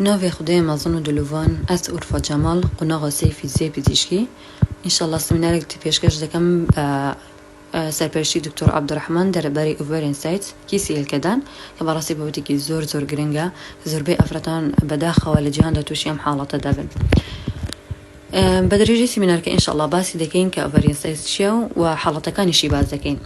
ناڤێ خودێ مەزن و دلوڤان ئەس ئورفا جەماڵ قوناغە سێی فیزیای پزیشکی ان شاء اللە سمینارێک تی پێشکەش دەکەم بە سەرپەرشتی دکتۆر عبدالرحمن دەرەباری ئوڤەرین سایت کیسی هێلکەدان کە بەڕاستی بابەتێکی زۆر زۆر گرنگە زۆربەی ئافرەتان بەداخەوە لە جیهاندا تووشی ئەم حاڵەتە دەبن. بە درێژی سیمینارکە ان شاءاللە باسی دەکەین کە ئۆڤەرین سایز چیە و و حاڵەتەکانیشی باس دەکەین.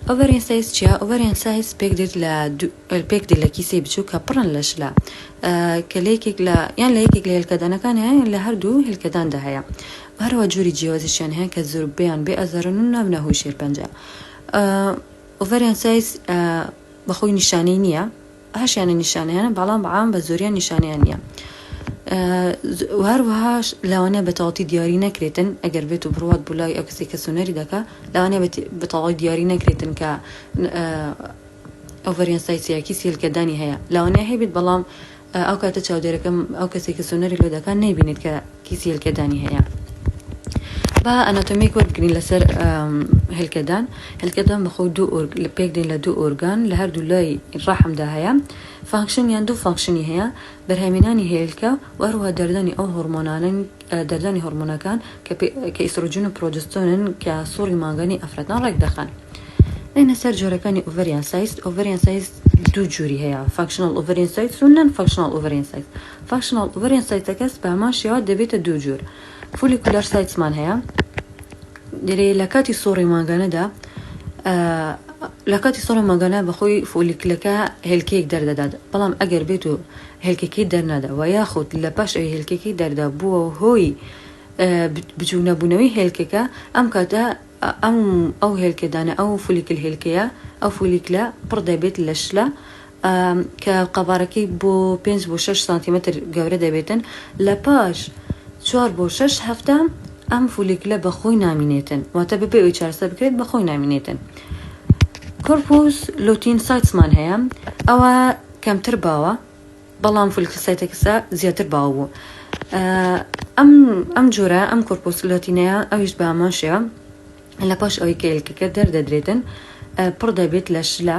ئۆڤەرین سایز چیە؟ ئۆڤەرین سایز پێک دێت لە دوو پێک دێت لە کیسەی بچوک کە پڕن لە شلە کە لە یەکێک لە یان لە یەکێک لە هێلکەدانەکان هەیە یان لە هەردوو هێلکەداندا هەیە و هەروە جۆری جیاوازیشیان هەیە کە زۆر بیان بێ ئەزارن و نابنە هۆی شێرپەنجە ئۆڤەرین سایز بەخۆی نیشانەی نییە هەشیانە نیشانەیانە بەڵام بەعام بە زۆریان نیشانەیان نییە و هەروەهاش لەوانەیە بە تەواوەتی دیاری نەکرێتن ئەگەر بێت و بڕوات بوو لای ئەو کەسی کە سونەری دەکا لەوانەیە بە تەواوی دیاری نەکرێتن کە ئەو ڤەریان سایسیاکی سیلکەدانی هەیە لەوانەیە هەیبێت بەڵام ئەو کاتە چاودێرەکەم ئەو کەسێکی سونەری لۆ دەکات نەیبینێت کە کیسی هێلکەدانی هەیە با ئەناتۆمیک وەربگرین لەسەر هێلکەدان هێلکەدان بەخۆ دوو لە پێک دێن لە دوو ئۆرگان لە هەردوو لای ڕەحمدا هەیە فانکشن یان دوو فانکشنی هەیە بەرهەمێنانی هێلکە وەروە دەردانی ئەو هۆرمۆنانن دەردانی هۆرمۆنەکان کە ئیسرۆجین و پرۆجستۆنن کە سوڕی مانگانی ئەفرەتان ڕێک دەخەن بینە سەر جۆرەکانی ئۆڤریان سایست ئۆڤریان سایست دوو جووری هەیە فانکشنل ئۆڤریان سایت و نان فانکشنل ئۆڤریان سایت فانکشناڵ ئۆڤەریان سایتەکەس بە هەمان شێوە دەبێتە دوو جۆر فولیکولار سایتسمان هەیە دەرێ لە کاتی سۆڕی مانگانەدا لە کاتی سۆڕی مانگانە بەخۆی فۆلیکلەکە هێلکەیەک دەردەدات بەڵام ئەگەر بێت و هێلکەکەی دەرنادا و یاخود لە پاش ئەوی هێلکەکەی دەردا بووە و هۆی بچوو نەبوونەوەی هێلکەکە ئەم کاتە ئەم ئەو هێلکەدانە ئەو فولیکل هێلکەیە ئەو فولیکلە پڕ دەبێت لە شلە کە قەبارەکەی بۆ پێنج بۆ شەش سانتیمەتر گەورە دەبێتن، لە پاش چوار بۆ شەش هەفتە ئەم فولیکلە بە خۆی نامینێتن، واتە بەبێ ئەوەی چارەسەر بکرێت بە خۆی نامینێتن. کۆرپوس لۆتین سایتسمان هەیە، ئەوە کەمتر باوە، بەڵام فولیکل سایتەکسە زیاتر باو بوو. ئەم ئەم جۆرە ئەم کۆرپوس لۆتینەیە ئەویش بە هەمان شێوە لە پاش ئەوەی کە ئێلکەکە دەردەدرێتن پڕ دەبێت لە شلە،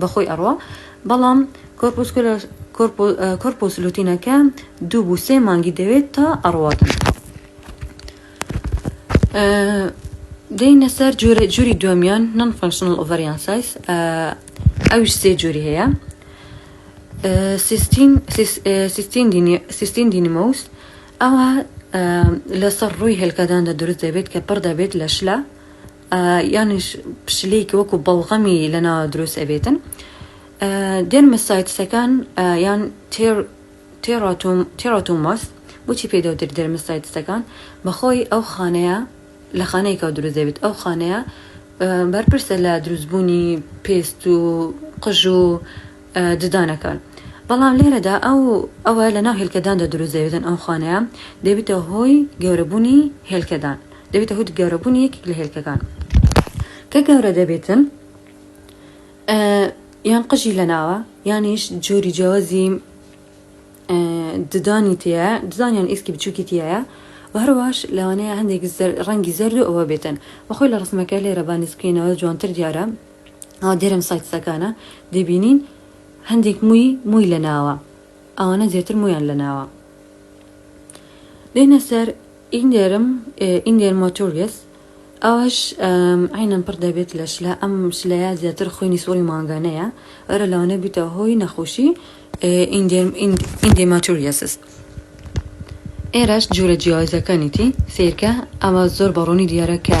بەخۆی ئەڕوا بەڵام کۆرپوسکۆلە کۆرپۆ کۆرپۆس لوتینەکە دوو بوو سێ مانگی دەوێت تا ئەڕواتن دەینە سەر جۆرە جوری دومیان نان فانکشنل ئۆڤریان سایز ئەوش سێ جوری هەیە سیستین سیستین سیستین دینیمۆس ئەوە لەسەر ڕووی هێلکەداندا دروست دەبێت کە پڕ دەبێت لە شلە یانیش پشلیک وەکو بەڵغەمی لەنا دروست ئەبێتن دێرمسایتسەکان یان تێر تێڕاتوم تێڕاتوماس بچی پێدەوتر دێرمسایتسەکان بەخۆی ئەو خانەیە لە خانەیەکەوە دروست دەبێت ئەو خانەیە بەرپرسە لە دروستبوونی پێست و قژ و ددانەکان بەڵام لێرەدا ئەو ئەوە لە ناو هێلکەداندا دروست دەبێتن ئەو خانەیە دەبێتە هۆی گەورەبوونی هێلکەدان دەبێتە هۆی گەورەبوونی یەکێک لە هێلکەکان کە گەورە دەبێتن یان قژی لە ناوە یانیش جۆری جیاوازی ددانی تەیە ددانیان ئیسکی بچووکی تایە و هەرواش لەوانەیە هەندێک ڕەنگی زەرد و ئەوە بێتن بەخۆی لە ڕسمەکە لێرە بانیسکێنەوە جوانتر دیارە ئەو دێرم سایتسەکانە دەبینین هەندێک مووی مووی لە ناوە ئەوانە زیاتر مویان لە ناوە دێنە سەر ئینێرم، Inger Motorges، ئەوەش عەینەن پڕ دەبێت لە شلە، ئەم شلەیە زیاتر خوێنی سوڕی مانگانەیە، ئەرە لەوانەیە بیتە هۆی نەخۆشی Indermaturiasis. ئێرەش جۆرە جیاوازەکانیی سەیرکە، ئەمە زۆر بە ڕوونی دیارە کە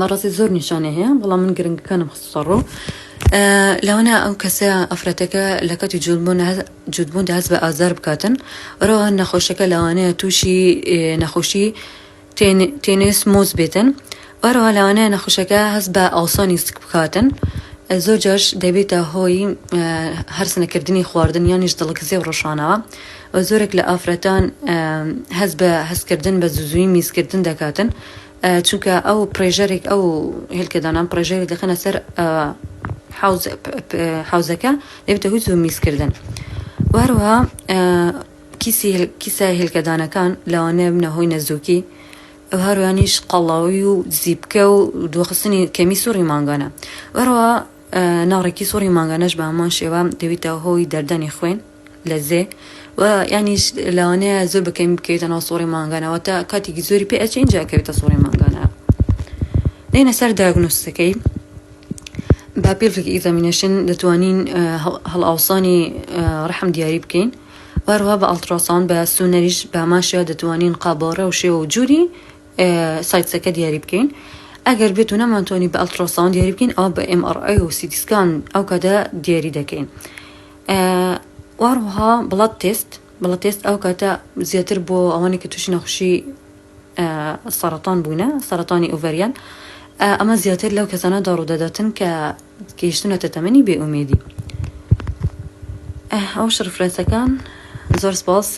بەڕاستی زۆر نیشانەی هەیە بەڵام من گرنگەکانم خستە ڕۆ لەوەنا ئەو کەسە ئەفرەتەکە لە کەتی جوودبوون دەست بە ئازار بکاتن ڕەوە نەخۆشەکە لەوانەیە تووشی نەخۆشی تێنێس مۆز بێتن وەرەوە لەوانەیە نەخۆشەکە هەست بە ئاڵسانی سک بکاتن زۆر جاش دەبێتە هۆی هەرس نەکردنی خواردن یانیش دڵکزێ و ڕۆشانەوە و زۆرێک لە ئافرەتان هەز بە هەستکردن بە زوزوی میزکردن دەکاتن چونکە ئەو پڕێژەرێک ئەو هێلکەدانان پڕێژەرێک دەخەنە سەر حوزەکە دەبێتە هوی زوو میزکردن وهروها کیسە هێلکەدانەکان لەوانەیە بنە هۆی نەزۆکی ئەو هەروانیش قەڵاوی و زیبکە و دۆخستنی کەمی سوڕی مانگانە وەروە ناڕێکی سوڕی مانگانەش بە هەمان شێوە دەبێتە هۆی دەردانی خوێن لەزێ و یانیش لەوانەیە زۆر بەکەمی بکەوێتە ناو سوڕی مانگانەوە تا کاتێکی زۆری پێ ئەچین جاکەوێتە سوڕی مانگانە دێنە سەر داگنۆستەکەی با پێڵێکی ئیزامینەشن دەتوانین هەڵاوسانی ڕحم دیاری بکەین وەروە بە ئەڵتراسان بە سونەریش باماشە دەتوانین قابۆڕە و شێوە و جووری سایتسەکە دیاری بکەین ئەگەر بێت و نەمانتوانی بە ئەڵتراسان دیاری بکەین ئەو بە MRI و سیدیسکان ئەو کەدا دیاری دەکەین. واروها بڵەت تێست بڵە تێست ئەو کاتە زیاتر بۆ ئەوانی کە تووشی نەخشی سەرەتان بوونە سەرەتانی ئۆڤەریان ئەمە زیاتر لەو کەسانە داڕوودەداتن کە گەیشتونەتە تەمەنی بێئومێدی ئەو شڕفرەتەکان زۆر سپاس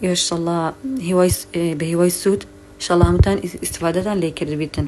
یۆشەڵا هیوای بە هیوای سوود شەڵامتان ئیسفادەتان لێ کردبیتن.